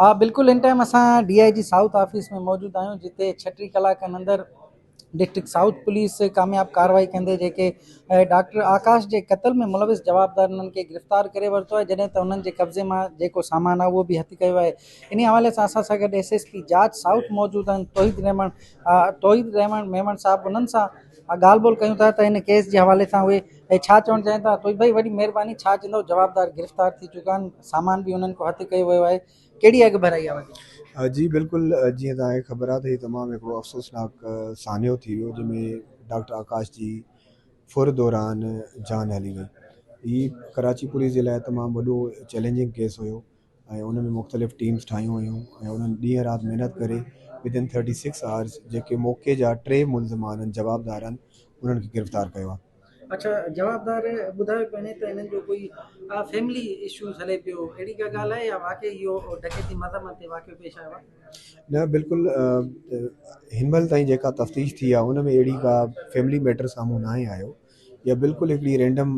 آ بلڪل ان ٽائيم اسان D I G south office ۾ موجود آهيون جتي ڇهه ٽي ڪلاڪن اندر ڊسٽرڪٽ سائوٿ پوليس ڪامياب ڪاروائي ڪندي جيڪي ڊاڪٽر آڪاش جي قتل ۾ ملوث جوابدار انهن کي گرفتار ڪري ورتو آهي جڏهن ته انهن جي قبضي مان جيڪو سامان آهي اهو به هٿ ڪيو آهي انهي حوالي سان اسان سان گڏ ايس ايس پي جاچ سائوٿ موجود آهن توحيد رحمان توحيد رحمان ميمڻ صاحب انهن سان ڳالهه ٻولهه ڪيون ٿا ته ان ڪيس جي حوالي سان اهي اهي ڇا چوڻ چاهين ٿا توي ڀئي وڏي مهرباني ڇا چوندو جوابدار گرفتار ٿي چڪا آهن سامان به انهن کان هٿ ڪيو ويو آهي ڪهڙي اڳ ڀرائي آهي وڌيڪ. جي بلڪل جيئن توهان کي خبر آهي ته هي تمام هڪڙو افسوسناڪ سانحو ٿي ويو جنهن ۾ ڊاڪٽر آڪاش جي ڦر دوران جان هلي وئي هي ڪراچي پوليس جي لاء تمام وڏو چئلينجنگ ڪيس هيو ۽ ان ۾ مختلف ٽيمز ٺاهيون ويون ۽ انهن ڏينهن رات محنت ڪري Within Thirty Six Hours جيڪي موقعي جا ٽي ملزم آهن جوابدارن انهن کي گرفتار ڪيو آهي. اچا جوابدار ٻڌايو پيني ته انهن جو ڪوئي فيملي اشوز هلي پيو اهڙي ڪا ڳالهه آهي يا واقعي اهو ڊڪيتي مذمت تي واقعو پيش آيو آهي. نه بلڪل هن مهل تائين جيڪا تفتيش ٿي آهي ان ۾ اهڙي ڪا فيملي ميٽر سامهون ناهي آيو. اها بلڪل هڪڙي رينڊم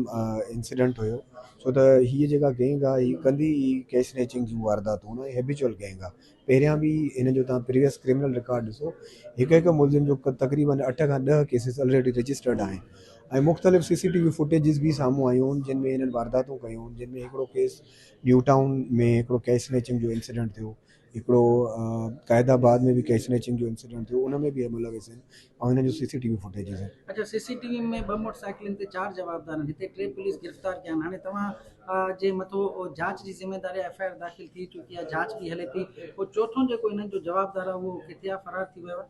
انسيڊنٽ هيو ڇو ته هيء جيڪا گينگ آهي هي ڪندي ئي ڪيش سنيچنگ جون وارداتون ۽ هيبيچوئل گينگ آهي پهريان به هن جو تهان پريويس ڪرمنل رڪارڊ ڏسو هڪ هڪ ملزم جو تقريبن اٺ کان ڏهه ڪيسز الريڊي رجسٽرڊ آهن ۽ مختلف C C T V footages به سامهون آيون هن جن ۾ هنن وارداتون ڪيون جن ۾ هڪڙو ڪيس نيو ٽائون ۾ هڪڙو ڪيش سنيچنگ جو انسيڊنٽ ٿيو هڪڙو قائد آباد ۾ به ڪيش سنيچنگ جو انسيڊنٽ ٿيو ان ۾ به ايم لويس آهن ۽ انهن جو C C T V footages آهن. اچا سي سي ٽي وي ۾ ٻه موٽر سائيڪلن تي چار جوابدار آهن هتي ٽي پوليس گرفتار ڪيا آهن هاڻي توهان جي مٿو جاچ جي ذميواري آهي ايف آء آر داخل ٿي چڪي آهي جاچ به هلي ٿي پوء چوٿون جيڪو انهن جو جوابدار آهي اهو ڪٿي آهي فرار ٿي ويو آهي.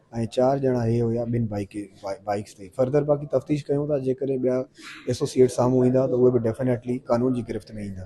۽ چار ڄڻا هي هيا ٻن بائيڪس تي فرڌر باقي تفتيش ڪيون ٿا جيڪڏهن ٻيا ايسوسيئيٽ سامهون ايندا ته اهي به ڊيفنيٽلي قانون جي گرفت ۾ ايندا.